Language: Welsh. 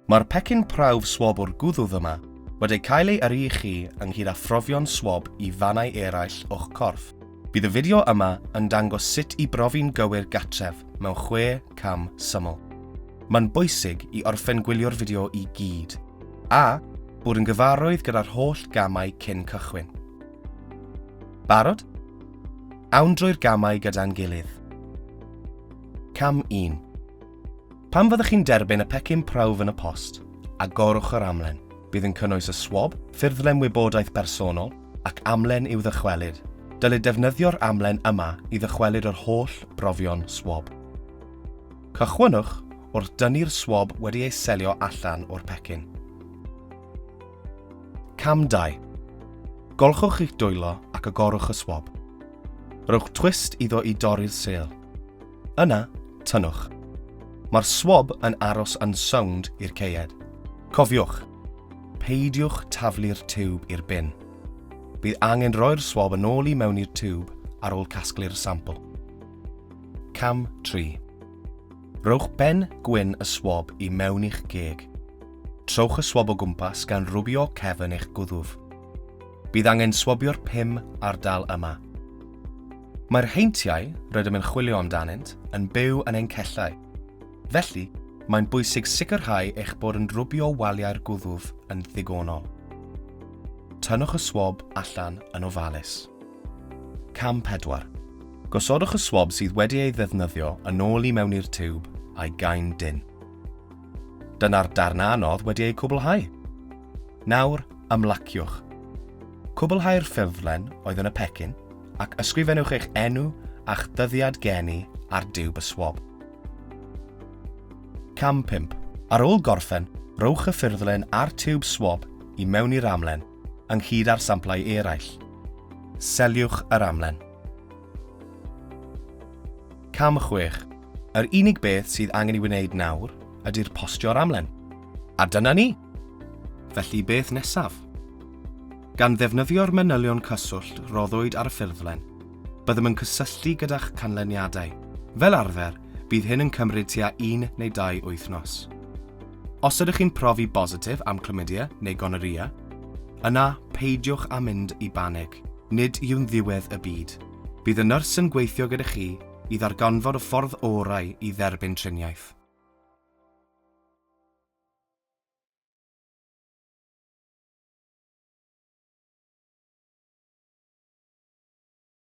Mae'r pecyn prawf swab o'r gwddwf yma wedi cael ei yrru i chi ynghyd â phrofion swab i fannau eraill o'ch corff. Bydd y fideo yma yn dangos sut i brofi'n gywir gartref mewn chwe cam syml. Mae'n bwysig i orffen gwylio'r fideo i gyd, a bod yn gyfarwydd gyda'r holl gamau cyn cychwyn. Barod? Awn drwy'r gamau gyda'n gilydd. Cam 1. Pan fyddwch chi'n derbyn y pecyn prawf yn y post, agorwch yr amlen. Bydd yn cynnwys y swab, ffurflen wybodaeth bersonol, ac amlen i'w ddychwelyd. Dylid defnyddio'r amlen yma i ddychwelyd yr holl brofion swab. Cychwynnwch wrth dynnu'r swab wedi ei selio allan o'r pecyn. Cam 2. Golchwch eich dwylo ac agorwch y swab. Rhowch twist iddo i dorri'r sêl. Yna, tynnwch. Mae'r swab yn aros yn sownd i'r ceied. Cofiwch, peidiwch taflu'r tiwb i'r bin. Bydd angen roi'r swab yn ôl i mewn i'r tiwb ar ôl casglu'r sampl. Cam 3. Rhowch ben gwyn y swab i mewn i'ch geg. Trowch y swab o gwmpas gan rwbio cefn eich gwddf. Bydd angen swabio'r pum ardal yma. Mae'r heintiau rydym yn chwilio amdanynt yn byw yn ein cellau, felly mae'n bwysig sicrhau eich bod yn rwbio waliau'r gwddf yn ddigonol. Tynnwch y swab allan yn ofalus. Cam 4. Gosodwch y swab sydd wedi ei ddefnyddio yn ôl i mewn i'r tiwb a'i gain dynn. Dyna'r darn anodd wedi ei cwblhau. Nawr, ymlaciwch. Cwblhau'r ffurflen oedd yn y pecyn ac ysgrifennwch eich enw a'ch dyddiad geni ar diwb y swab. Cam 5. Ar ôl gorffen, rhowch y ffurflen a'r tiwb swab i mewn i'r amlen, ynghyd â'r samplau eraill. Seliwch yr amlen. Cam 6. Yr unig beth sydd angen i wneud nawr ydy'r postio ar amlen. A dyna ni! Felly beth nesaf? Gan ddefnyddio'r manylion cyswllt roddwyd ar y ffurflen, byddem yn cysylltu gyda'ch canlyniadau. Fel arfer, bydd hyn yn cymryd tua un neu dau wythnos. Os ydych chi'n profi bositif am chlamydia neu gonorrhea, yna peidiwch â mynd i banig. Nid yw'n ddiwedd y byd. Bydd y nyrs yn gweithio gyda chi i ddarganfod y ffordd orau i dderbyn triniaeth.